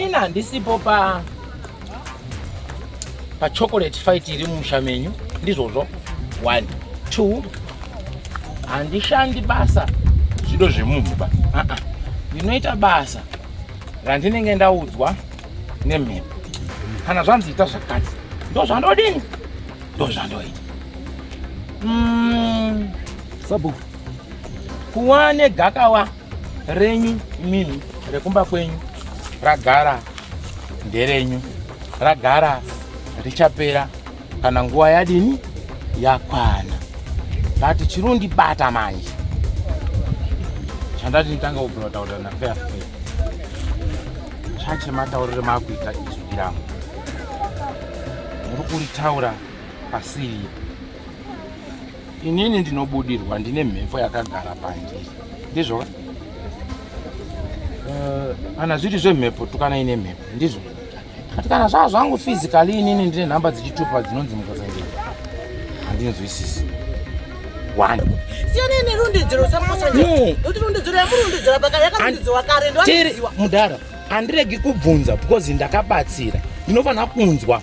Ini handisipo pa pa chocolate fight iri mumusha menyu ndizvozvo one two handishandi basa zvido zvemunhu ba ndinoita basa randinenge ndaudzwa nemhepo kana zvanzi ita zvakati ndo zvandodini ndo zvandoita mm. sabu kuwa negakawa renyu imimi rekumba kwenyu ragara nderenyu ragara richapera kana nguva yadini yakwana but chirundibata manje chandati nditanga kubvira kutaurira nafea fea chachematauriro maakuita izwi rangu muri kuritaura pasiri inini ndinobudirwa ndine mhepo yakagara pandiri ndizvo eh, kana zviri zvemhepo tukana ine mhepo ndizvo kati kana zvava zvangu physically inini ndine nhamba dzichitupa dzinonzi mukazange handinzwisisi one siyanei nerondedzero samukosanekuti rondedzero yamurondedzera paka yakarondedzewa kare ndoaziwa mudhara handiregi kubvunza because ndakabatsira ndinofanira kunzwa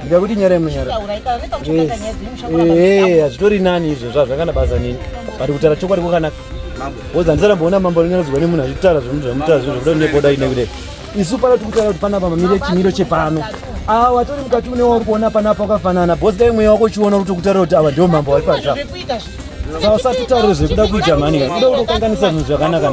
ndida kuti nyara munyara hazvitori nani izvo zvazvakana basa nini but kutaura chokwadi kwakanaka woza handisaramboona mambo anonyaradzwa nemunhu achitaura zvinhu zvamutaura zvinhu zvokuda neboda ine kudai isu pano tikutaura kuti panapa mamire chimiro chepano awa watori mukati une wauri kuona panapa wakafanana bhosi dai mweya wako uchiona kuti kutaura kuti awa ndio mambo vari pazva sausatitaure zvekuda kuita mhani kuda kutokanganisa zvinhu zvakanaka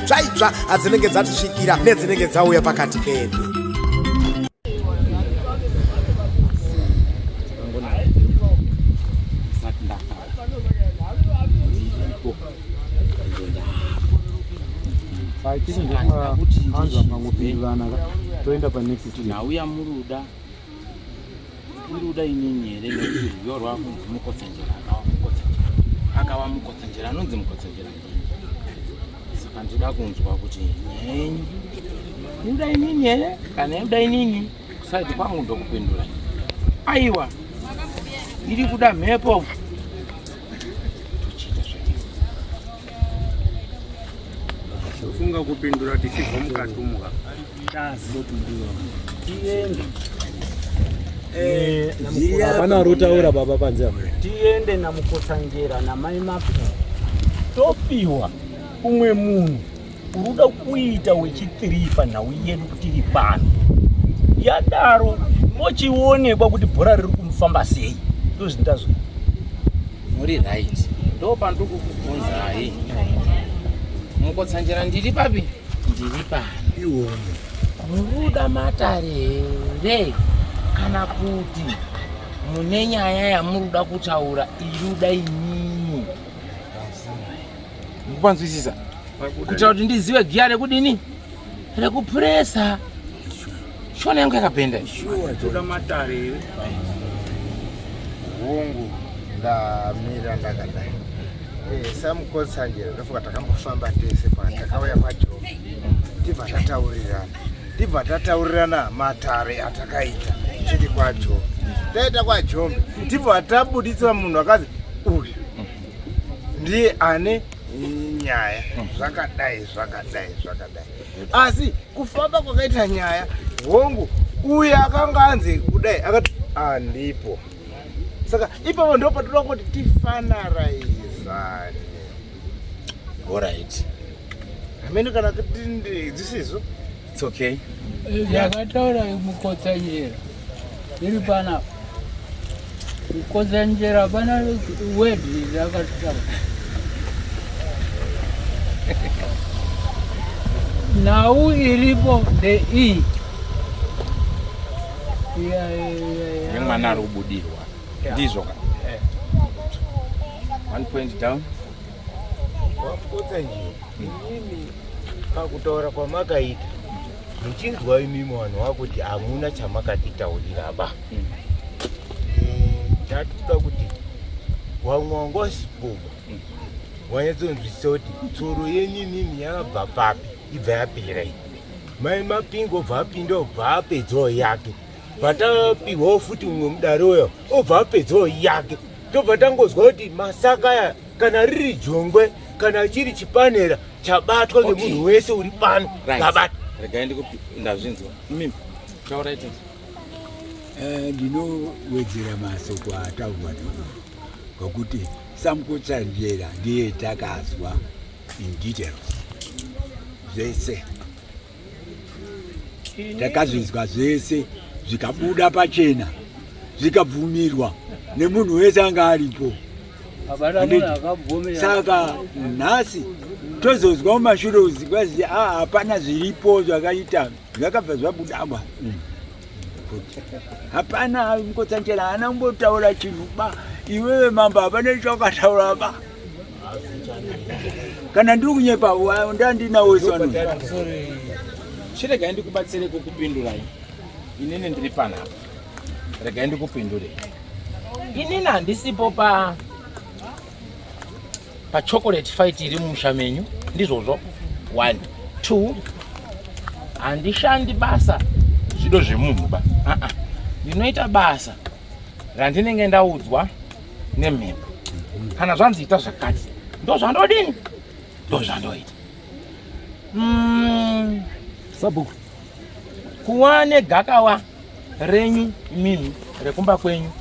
dzvaitsva adzinenge dzatisvikira nedzinenge dzauya pakati pedu toenda panext ndauya muruda Uruda inini here nekuti rudo rwakunzi mukotsanjera akawa mukotsanjera akawa mukotsanjera anonzi mukotsanjera saka ndoda kunzwa kuti nyenyu uruda inini here kana uruda inini kusaiti kwangu ndokupindura aiwa iri kuda mhepo Tofunga kupindura tichibva mukati umo ka. Tiende. Eh, Zviya- Hapana ari kutaura baba panze apa. tiende namukotsanjera namai mafu topiwa umwe munhu unoda kuita wechitiri panhau yedu kuti iri pano yadaro mochionekwa kuti bhora riri kumufamba sei ndozvindazvo muri right ndo pandokukubvunzai mukotsanjera ndiri papi ndiri pano iwomo muruda matare here kana kuti mune nyaya yamuruda kutaura iruda inini mukupanzwisisa kuitira kuti ndizive giya rekudini rekupuresa shona yangu yakapenda toda matare here hungu ndamira ndakadai eh, samukosanjera ndofuka takambofamba tese patakauya pajo tibva tataurirana tibva tataurirana matare atakaita tiri kwajombe taita kwajombe tibva tabuditsira munhu akazi uyu ndiye ane nyaya zvakadai zvakadai zvakadai asi kufamba kwakaita nyaya hongu uye akanga anzi kudai akati andipo saka ipapo ndo patoda kuti tifanaraizane orit amene kana kuti ndizisizo It's okay. Eh, Yakataura mukotsanyera iri pana mukotsanyera pana word yakataura nhau iripo the e nemwana ari kubudirwa ndizvo ka eh. one point down Wapotsa nje inini pakutaura kwamakaita muchinzwa imimi vanhu vakuti hamuna chamakatitaurira ba tatuda eh, kuti vamwe wangosipuma wanyatsonzwisisa kuti tsoro yenyu inini yakabva papi ibva yapera iyi mai mapingo bva apinda bva apedzawo yake patapihwawo futi mumwe mudare uyo obva apedzawo yake tobva tangonzwa kuti masaka aya kana riri jongwe kana chiri chipanera chabatwa nemunhu wese uri pano abata regai ndikupi ndazvinzwa mimi taurai tete eh, ndinowedzera masoko ataurwa navo ngokuti samukotsanjera ndiye takazwa in details zvese takazvinzwa zvese zvikabuda pachena zvikabvumirwa nemunhu wese anga aripo saka nhasi tozozwa mumashure uzikwazii a ah, hapana zviripo zvakaita zvakabva zvabudaba mm. hapana mukotsanjera haana kumbotaura chinhu ba iwewe mambo hapana chawakataura ba kana ndiri kunyepa ndandinawo isano chiregai ndikubatsire kukupindurai inini ndiri panapa regai ndikupindure inini handisipo pa pachocolate fight iri mumusha menyu ndizvozvo one two handishandi basa zvido zvemunhu ba ndinoita basa randinenge ndaudzwa nemhepo kana zvanzi ita zvakati ndozvandodini ndozvandoita mm. sabhuku kuva negakawa renyu imimi rekumba kwenyu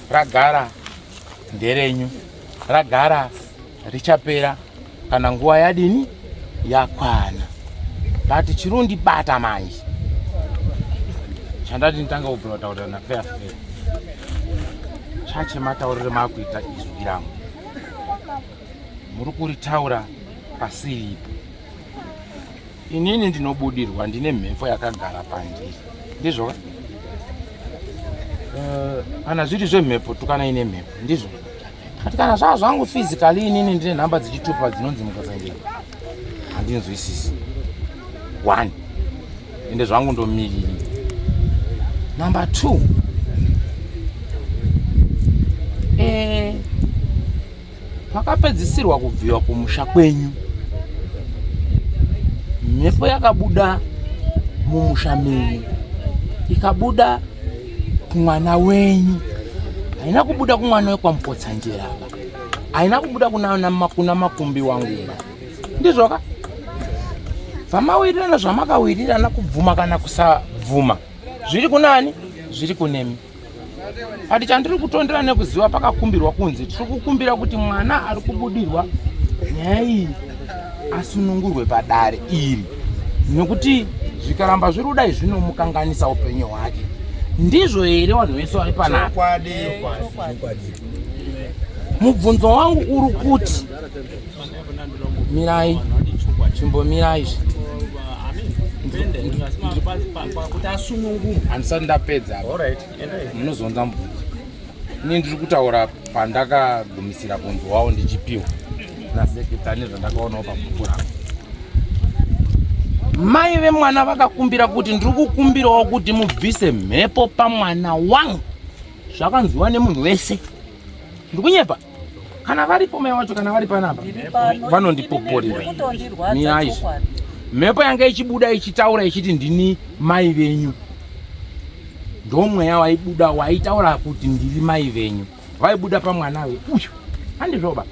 ragara nderenyu ragara richapera kana nguva yadini yakwana but chirundibata manje chandati nditanga kubvira kutaurira nafea fea chache mataurire maakuita izwi rangu muri kuritaura pasiripo inini ndinobudirwa ndine mhepo yakagara pandiri ndizvoka eh, kana zviri zvemhepo tukana ine mhepo ndizvoka But kana zvaa zvangu physically inini ndine nhamba dzichitupa dzinonzi mukazangeni handinzwisisi one ende zvangu ndomiriri number two eh, pakapedzisirwa kubviwa kumusha kwenyu mhepo yakabuda mumusha menyu ikabuda kumwana wenyu haina kubuda kumwana wekwamupotsanjera ava haina kubuda kuna makumbi wanguba ndizvoka zvamawirirana zvamakawirirana kubvuma kana kusabvuma zviri kunani zviri kunemi ati chandiri kutondera nekuziva pakakumbirwa kunzi tiri kukumbira kuti mwana ari kubudirwa nyaya iyi asunungurwe padare iri nokuti zvikaramba zviri kudai zvinomukanganisa upenyu hwake ndizvo here vanhu vese vari panapa mubvunzo wangu uri kuti mirai chimbomirai kuti asunungurwe handisati ndapedza munozonza mubvunzo ini ndiri kutaura pandakagumisira kunzwawo ndichipiwa naseketa nezvandakaonawo pabhuku rangu mai vemwana vakakumbira kuti ndiri kukumbirawo kuti mubvise mhepo pamwana wangu zvakanzwiwa nemunhu wese ndikunyepa kana varipo mai wacho kana vari panapa vanondipoporera miyai mhepo yanga ichibuda ichitaura ichiti ndini mai venyu ndomweya waibuda waitaura kuti ndiri mai venyu vaibuda pamwana we uyu handizvoba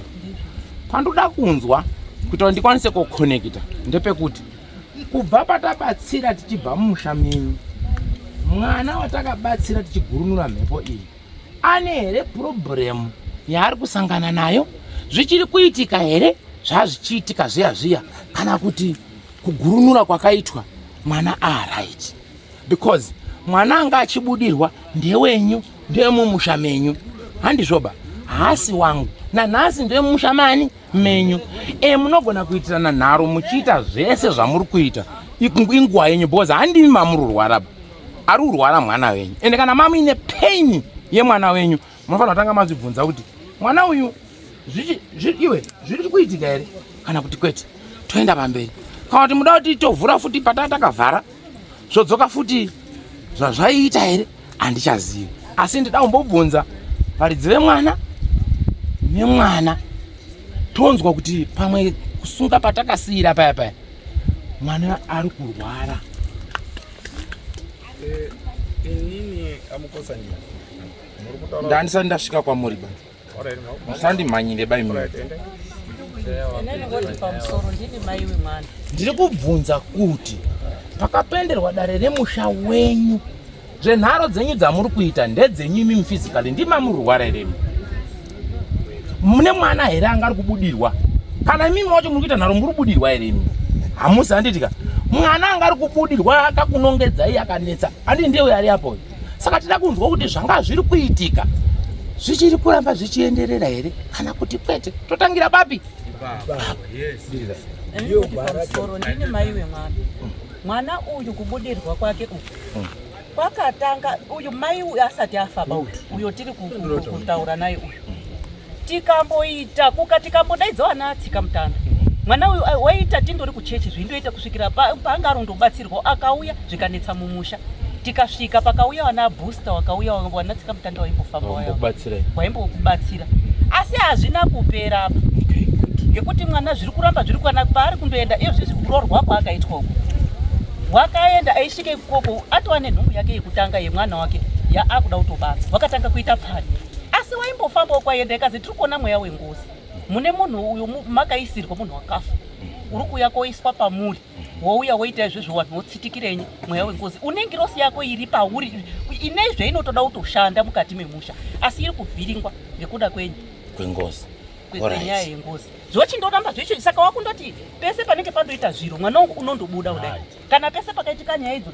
pandoda kunzwa kuita kuti ndikwanise kukonekita ndepekuti kubva patabatsira tichibva mumusha menyu mwana watakabatsira tichigurunura mhepo iyi ane here problem yaari kusangana nayo zvichiri kuitika here zvazvichiitika zviya zviya kana kuti kugurunura kwakaitwa mwana aaright because mwana anga achibudirwa ndewenyu ndemumusha menyu handizvoba haasi wangu nanhasi ndemumusha mani menyu e munogona kuitirana nharo muchiita zvese zvamuri kuita inguva yenyu because handimi mamururwaraba ari kurwara mwana wenyu ende kana mamuine pain yemwana wenyu munofanira kutanga mazvibvunza kuti mwana uyu iwe zviri kuitika here kana kuti kwete toenda pamberi kana kuti muda kuti tovhura futi pataa takavhara zvodzoka futi zvazvaiita here handichazivi asi ndida kumbobvunza varidzi vemwana nemwana tonzwa kuti pamwe kusunga patakasiyira paya paya mwana ari kurwara Eh, inini amukosa njira ndandisati ndasvika kwamuri ba musandimhanyire bai mune ndiri kubvunza kuti pakapenderwa dare remusha wenyu zvenharo dzenyu dzamuri kuita ndedzenyu imi mufizikali ndimamurwara iremi mune mwana here anga ari kubudirwa kana imimi wacho muri kuita nharo muri kubudirwa here imi hamusi handitika mwana anga ari kubudirwa akakunongedzai akanetsa andi ndiye uyo ari apo saka tida kunzwa kuti zvanga zviri kuitika zvichiri kuramba zvichienderera here kana kuti kwete totangira papi ndine mai wemwana mwana uyu kubudirwa kwake uku Kwakatanga uyu mai uyu asati afa about uyo tiri kutaura naye uyu tikamboita kuka tikambodaidza vana atsika mutana mwana uyu eh, waita tindori kuchechi zvindoita kusvikira paanga arondobatsirwa akauya zvikanetsa mumusha tikasvika pakauya vana abooster wakauya vana tsika mutanda waimbofamba waimbokubatsira asi hazvina kupera apa ngekuti mwana zviri kuramba zviri kwana paari kundoenda iyo zvizvi kurorwa kwaakaitwa uko wakaenda aish Tike ikoko atova nenhumbu yake yekutanga yemwana wake yaakuda kutobara wakatanga kuita pfani asi waimbofambawo kwaienda ikazi tiri kuona mweya wengozi mune munhu uyo makaisirwa munhu wakafa uri kuuya koiswa pamuri wouya woita izvezvo vanhu votsitikirenyi mweya wengozi unengirosi yako iri pauri ine zvainotoda kutoshanda mukati memusha asi iri kuvhiringwa ngekuda kwenyi kwengozi kwenyaya yengozi zvochindorambazoicho saka wakundoti pese panenge pandoita zviro mwana wangu unondobuda kudai kana pese pakaitika nyaya idzo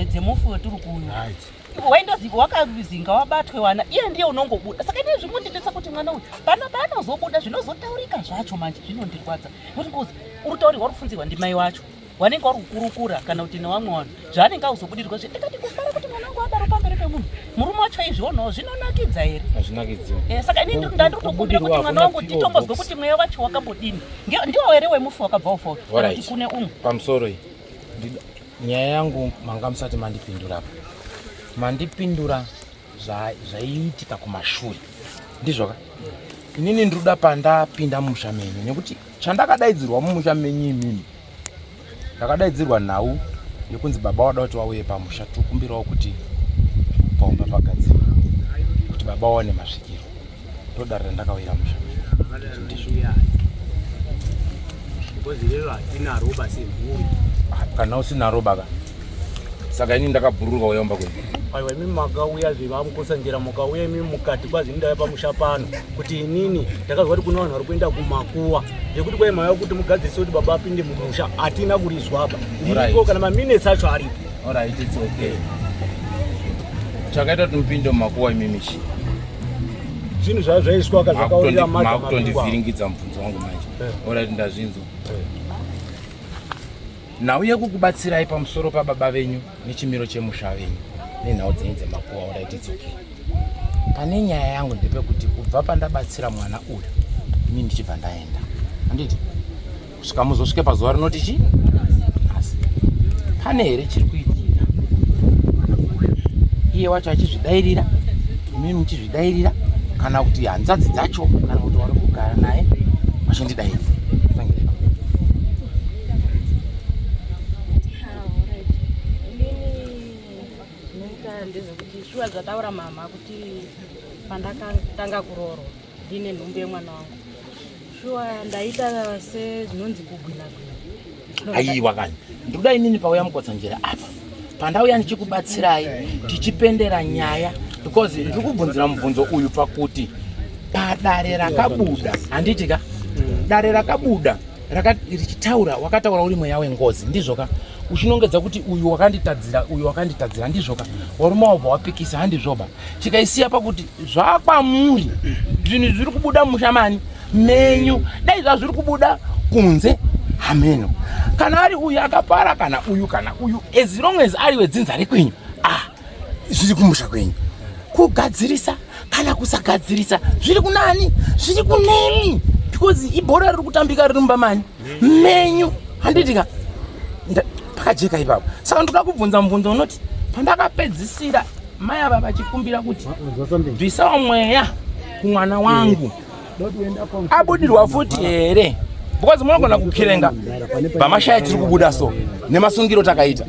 dzemufi wetiri kuuyu waindoziva wakazinga wabatwe wana iye ndiye unongobuda saka ine zvimundinetsa kuti mwana uyu pano paanozobuda zvinozotaurika zvacho manje zvinondirwadza kuti ngozi uri tauri wari kufunzirwa ndimai wacho wanenge wari kukurukura kana kuti newamwe wanhu zvaanenge auzobudirwa zve ndikati kufara kuti mwana wangu adaro pamberi pemunhu murume wacho izvionawo zvinonakidza here hazvinakidzi eh, saka ini ndandiri kutokumbira kuti mwana wangu nditombozwe kuti mweya wacho wakambodini Ndiwo here wemufi wakabva ufoka? Alright. Kune umwe. Pamusoro iyi. Nyaya yangu manga musati mandipindura apa. Mandipindura zvaiitika kumashure. Ndizvoka? Inini ndinoda pandapinda mumusha menyu nekuti chandakadaidzirwa mumusha menyu imimi ndakadaidzirwa nhau yekunzi baba wada kuti wauye pamusha tokumbirawo kuti paumba pagadzirwa kuti baba waone masvikiro ndodare randakauyira musha kana usina roba ka saka ini ndakabhururuka uya umba kwenyu aiwa imimi makauya zve vamukosanjera mukauya imimi mukati kwazi ndaya pamusha pano kuti inini ndakazwa kuti kune vanhu vari kuenda kumakuwa zvekuti kwai maya kuti mugadzirise kuti baba apinde mumusha hatina kurizwaba iko kana maminets acho aripo orit its okay chakaita kuti mupinde mumakuwa imimi chii zvinhu zvaa zvaiswaka zvakaurira makutondivhiringidza mubvunzo wangu manje eh. orit ndazvinzwa eh. nhau yekukubatsirai pamusoro pababa venyu nechimiro chemusha venyu nenhau dzenyu dzemakuva urai tidzoke pane nyaya yangu ndepekuti kubva pandabatsira mwana uyu ini ndichibva ndaenda anditi kusvika muzosvike pazuva rinoti chi nhasi pane here chiri kuitika iye wacho achizvidairira imimi muchizvidairira kana kuti hanzvadzi dzacho kana kuti wari kugara naye vachindidairira ndezvekuti shuwa zvataura mama kuti pandakatanga kuroorwa ndine nhumbu yemwana wangu shuwa ndaita sezvinonzi kugwina gwina aiwa kani ndikuda inini pauya mukotsanjera apa pandauya ndichikubatsirai tichipendera nyaya because ndiri kubvunzira mubvunzo uyu pakuti padare rakabuda handiti ka dare rakabuda richitaura wakataura uri mweya wengozi ndizvo ka uchinongedza kuti uyu wakanditadzira uyu wakanditadzira ndizvo ka waruma wabva wapikisa handizvoba tikaisiya pakuti zvakwamuri zvinhu zviri kubuda musha mani menyu dai zvazviri kubuda kunze hameno kana ari uyu akapara kana uyu kana uyu as long as ari wedzinza rekwenyu ah zviri kumusha kwenyu kugadzirisa kana kusagadzirisa zviri kunani zviri kunemi because ibhora riri kutambika riri mumba mani menyu handitika pakajeka ipapo saka ndoda kubvunza mubvunzo unoti pandakapedzisira mai ava vachikumbira kuti bvisawo mweya kumwana wangu yeah. abudirwa futi here because munogona kukirenga pamashaya tiri kubuda so nemasungiro takaita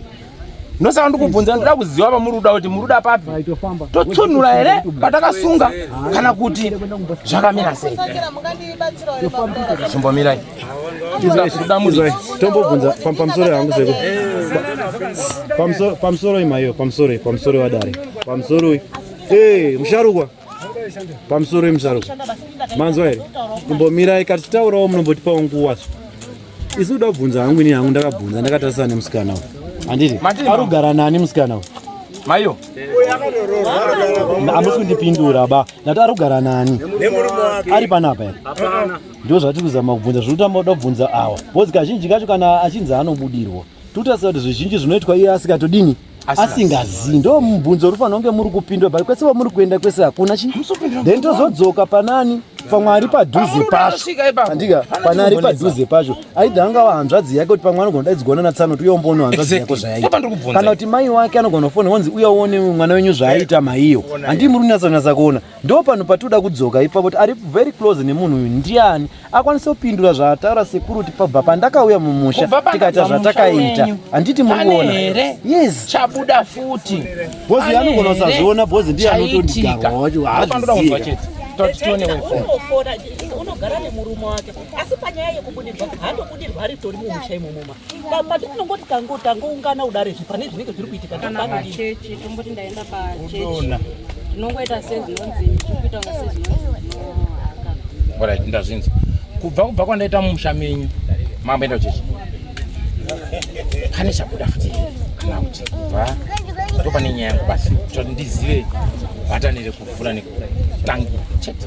ndosaka ndikubvunza ndoda kuziva pamuri kuda kuti muri kuda papi totsunhura here patakasunga kana kuti zvakamira sei chimbomirai tombobvunza pamusoro hangu seko pamusoro imaiyo pamusoro pamusoro wadare pamusoro musharukwa pamusoro yemusaro manzwa here kumbomirai kati taurawo munombotipawo nguwa isi kuda kubvunza hangu ini hangu ndakabvunza ndakatarisana nemusikana uyu handiti ari kugara nani musikana uyu maiyo hamusi kundipindura ba ndati ari kugara nani ari panapa here ndo zvatiri kuzama kubvunza zviri kutamba kuda kubvunza awa bhozi kazhinji kacho kana achinzi anobudirwa tikutarisa kuti zvizhinji zvinoitwa iye asikatodini asingazivi ndo mubvunzo uri fanira kunge muri kupindwa but kwese vamuri kuenda kwese hakuna chi then tozodzoka panani pamwe ari padhuze pacho andika pane ari padhuze pacho aida angava hanzvadzi yake kuti pamwe anogona daidzigona natsano kuti uya umbono hanzvadzi yako zvayaita kana kuti mai wake anogona kufona wanzi uya uone mwana wenyu zvaaita maiyo handii muri kunyatsonatsa kuona ndo panhu patioda kudzoka ipfa kuti ari very close nemunhu uyu ndiani akwanise kupindura zvaataura sekuru kuti pabva pandakauya mumusha tikaita zvatakaita handiti muri kuona yes chabuda futi bhozi yanogona usazviona bhozi ndiye anotondigarwa wacho haaziziva unogara nemurume wake asi panyaya yekubudirwa haandobudirwa ari tori mumusha imomoma patinongoti tangoungana kudarezve pane zvinenge zviri kuitika kana pachechi tomboti ndaenda pachechi tinongoita sezvinonzi tikuita kunga sezvinonzi ndazvinzi kubva kubva kwandaita mumusha menyu mambo enda kuchechi pane chabuda futi kana kuti kubva ndo pane nyaya yangu basi kuti ndizive bhatani rekuvhura nekutangura chete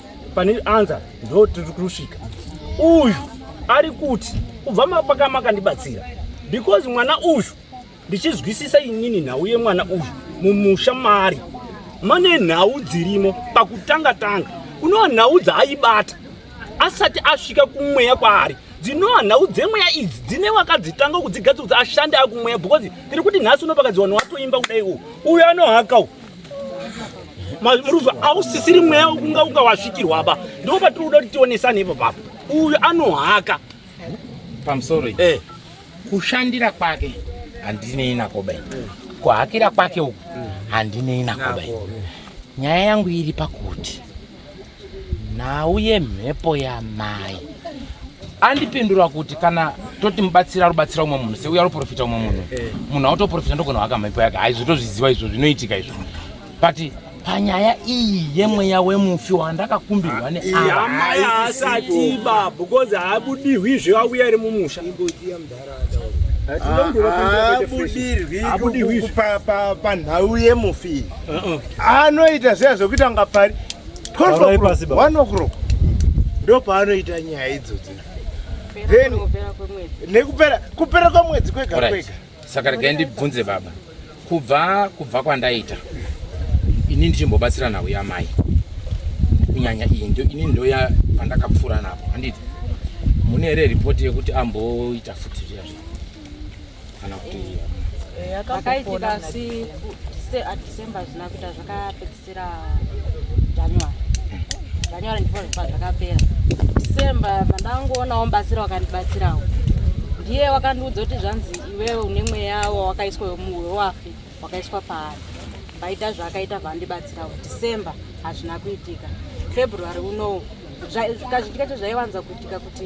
pane anza ndo tiri kusvika uyu ari kuti kubva mapaka makandibatsira because mwana uyu ndichizwisisa inini nhau yemwana uyu mumusha maari mane nhau dzirimo pakutanga tanga kunova nhau dzaaibata asati asvika kumweya kwaari dzinova nhau dzemweya idzi dzine wakadzitanga kudzigadzira kuti ashande akumweya because tiri kuti nhasi unopakadziwanhu watoimba kudai u uyo anohaka u Maruva ausisiri mweya wekunga unga wasvikirwa apa ndipo patiri kuda kuti tionesane ipo papo uyu anohaka pamusoro eh. kushandira kwake handinei nako bai kuhakira kwake uku handinei nako bai nyaya yangu iri pakuti nhau yemhepo yamai andipindura kuti kana toti mubatsira arubatsira umwe munhu seuya aruprofita umwe munhu eh. munhu autoprofita ndogona waka mhepo yake haizvo tozviziva izvo zvinoitika izvo but panyaya iyi yemweya wemufi wandakakumbirwa neaasati baba because haabudihwi zveuya ari mumusha abudirwi panhau yemufi uh-uh. anoita seya zvokuita nga pari 12 o'clock ndo paanoita nyaya idzodzo then nekupera kupera kwemwedzi kwega kwega saka regai ndibvunze baba kubva kubva kwandaita ini ndichimbobatsira nhau yamai kunyanya iyi ndo ini ndoya pandakapfuura napo handiti mune here ripoti yekuti amboita futi zviya zva kana kuti eh, eh, akaitika asi at december zvina kuita zvakapedzisa January ndipo zvakapera December pandangoonawo mubatsira wakandibatsirawo ndiye wakandiudza kuti zvanzi iwewe une mweya wawakaiswa wemuwe wafi wakaiswa paari vaita zvaakaita vandibatsira december hazvina kuitika february unowo kazhinji kacho zvaiwanza kuitika kuti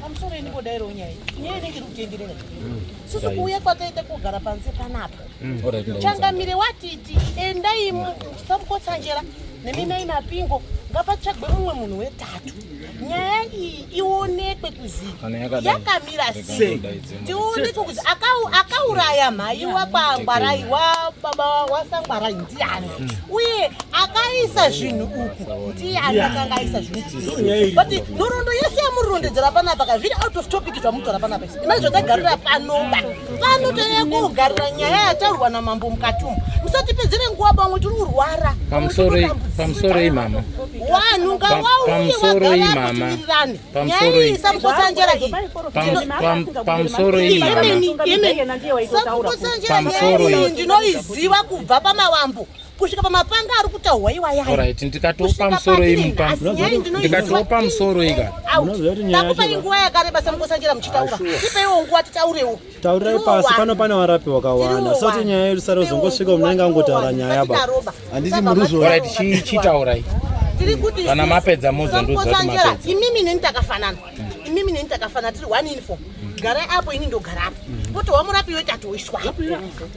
pamusoro ini kodairawo nyaya nyaya inenge iri kutenderera mm. susu kuuya kwataita kugara panze panapa mm. changamire watiti endai musabukotsanjera neminai mapingo ngapatsvagwe mumwe munhu wetatu nyaya iyi ionekwe kuziva yakamira sei tiuniko kuti akauraya mhai wakwangwarai wababa wasangwarai ndiani mm. uye akaisa zvinhu uku ndiani akanga aisa zvinhu but nhoroondo yese yamurondedzera panapa ka zviri out of topic zvamutora panapa isi imai zvotagarira panoba pano tanyaya kuogarira nyaya yataurwa namambo mukati umu musatipedzere nguva pamwe tiri kurwara pamusoroi mama wanhu ngawauye vagara kuti virirane pamusoro iyi pamusoro iyi pamusoro iyi ndinoiziva kubva pamawambo kusvika pamapanga ari kutaurwa iwayaorit ndikatopa musoro ndikatopa musoro ika ndakupai nguva yakareba samukosanjera muchitaura ipaiwo nguva titaurewo Taurirai pasi pano pane varapi wakawanda soti nyaya yedu sare uzongosvika munenge angotaura nyaya ba handiti muruzvora tichitaurai kana mapedza mozonduzvatimapedza imimi neni takafanana imimi neni takafanana tiri one uniform garai apo ini ndogarapo potohwa murapi yoita toiswa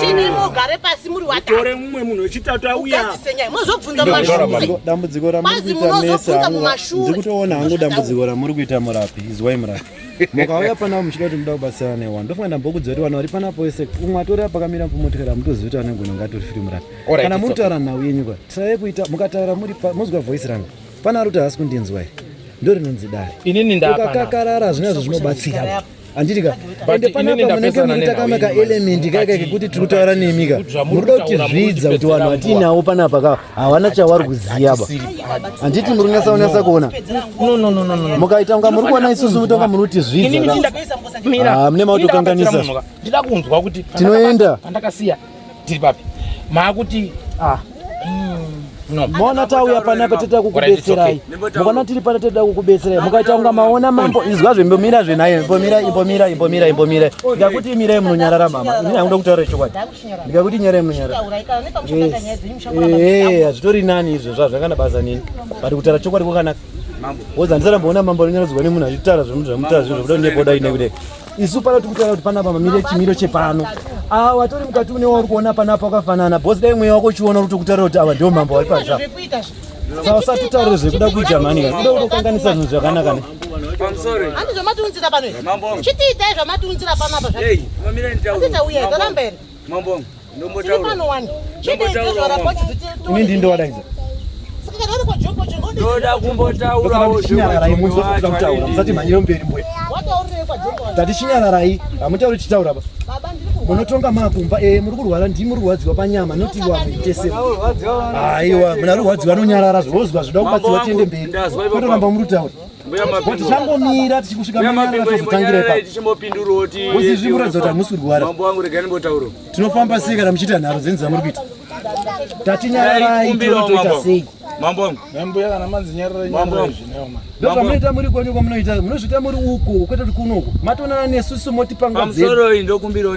Chini mugare pasi muri watatu. Tore mumwe munhu wechitatu auya. Ukadzisenyai mozobvunza mumashure. Dambudziko ramuri kuita mese hangu. Ndiri kutoona hangu dambudziko ramuri kuita murapi. Izwai murapi. Mukauya panapa muchida kuti muda kubatsirana newa. Ndofunga ndambokudza kuti vanhu vari panapa wese umwe atori apa kamira mumotikari amutozivi kuti ane ngono ngatori firi murapi. Kana muri kutaura nhau yenyu kwa. Tirayi kuita mukataura muri pa mozwa voice rangu. Pana ari kuti haasi kundinzwa here. Ndorinonzi dare. Inini ndapana. Ukakakarara zvinazvo zvinobatsira. handiti ka ende panapa munenge muita kama kaelementi kaika kekuti tiri kutaura nemi ka muri kuda kuti zvidza kuti vanhu vatiinawo panapa ka havana chavari kuziva ba handiti muri kunyasa kunyasa kuona mukaita kunga muri kuona isusu mutonga muri kuti zvidza ka ah, mune mautokanganisa tinoenda tiri papi maakuti ah. mm. mona tauya panapa toda kukubetserai mukona tiri pana toda kukubetserai mukaita kunga maona mambo izwa zvimbomira zvenaye imbomira imbomira imbomira imbomira ndikakuti imirai munonyarara mama ini hakuda kutaura chokwadi ndikakuti nyarai munonyarara eh, hazvitori nani izvo zva zvakana basa nini but kutaura chokwadi kwakanaka woza ndisarambowona mambo anonyaradzwa nemunhu achitaura zvinhu zvamutaura zvinhu zvokuda ndekuda inekuda isu pano tiri kutaura kuti panapa pamire chimiro chepano awa watori mukati une wauri kuona panapa wakafanana bhosi dai mweya wako uchiona uri kutaura kuti awa ndio mambo wari paza sa usati taure zvekuda kuita mani ka kuda kutokanganisa zvinhu zvakanaka ne handi zvamatiunzira pano chitiitai zvamatiunzira panapa zvaatiita uye toramberi Mambo wangu, ndombotaura. Ndombotaura mambo. Ini ndiye ndowadaidza. Ndoda kumbotaurawo zvinyararai munzwa kuda kutaura. Musati mhanyire mberi mbwe. Tati chinyararai, hamutauri chitaura ba. Munotonga makumba eh muri kurwara ndi muri kurwadziwa panyama noti wa mutese. Aiwa, muna kurwadziwa nonyarara zvozwa zvoda kubatsiwa tiende mberi. Kutoramba muri kutaura. Kuti changomira tichikusvika manyaratozotangira ipapozivimuratidza kuti hamusi kurwara tinofamba sei kana muchiita nharo dzenzi dzamuri kuita tatinyararai totoita sei ndozvamunoita muri kwenyu kwamunoita munozviita muri uku kwete kuti kunoku matonana nesu sumoti pangwazemusoro ndokumbirawo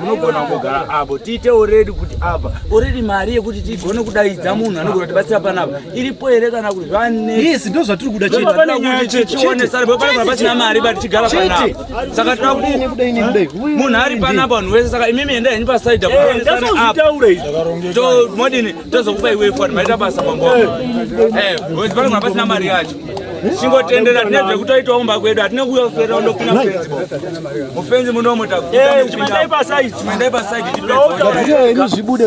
munogona kugara apo tiite oredi kuti apa oredi mari yekuti tigone kudaidza munhu anogona kutibatsira panapa iripo here kana kuti zvaneyes ndo zvatiri kuda chetetionesaapasina mari but tigara panapa saka tira kudini munhu ari panapa vanhu wese saka imimi enda henyu pasaida eh, kuonesana apo modini tozokupa iwe foni maita basa mambo eh, eh, wezi pano mapasina mari yacho chingotendera tine zvekutoitawo kumba kwedu hatine kuuya kuferera undopinda mufenzi mufenzi munomo takuipasaidi tipeaini zvibude